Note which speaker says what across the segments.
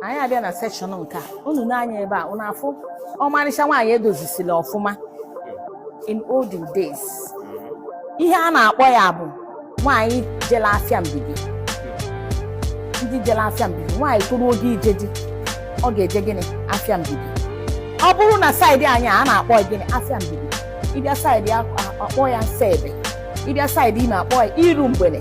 Speaker 1: anyị abịa na section nke a unu nee anya ebe a unu afụ ọmarịcha nwaanyị edozisiri ọfụma in olden days ihe a na-akpọ ya bụ nwaanyị jela afịa mbibi ndị jela afịa mbibi nwaanyị toru oge ije di ọ ga-eje gịnị afịa mbibi ọ bụrụ na side anyị a na-akpọ ya gịnị afịa mbibi ị bịa side a kpọọ ya nsa ebe ị bịa side imo a kpọọ ya iru mgbede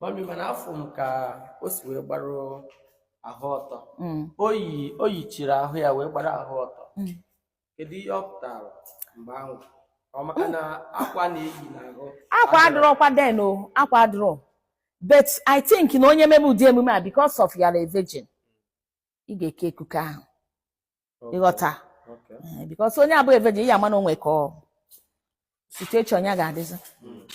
Speaker 2: mami mana afụ m ka o si wee gbara ahụ ọtọ mm. o yi o yichiri ahụ ya wee gbara ahụ ọtọ mm. kedu ihe ọ pụtara mgbe ahụ maka na akwa na-eyi n'ahụ akwa adịrọkwa
Speaker 1: then o akwa adịrọ but i think na onye mebe ụdị emume a because of you are a virgin ị ga-eke ekike ahụ ị ghọta eh, because onye abụghị a virgin ị ya-ama na o nwe ka situation ya ga-adịzi hmm.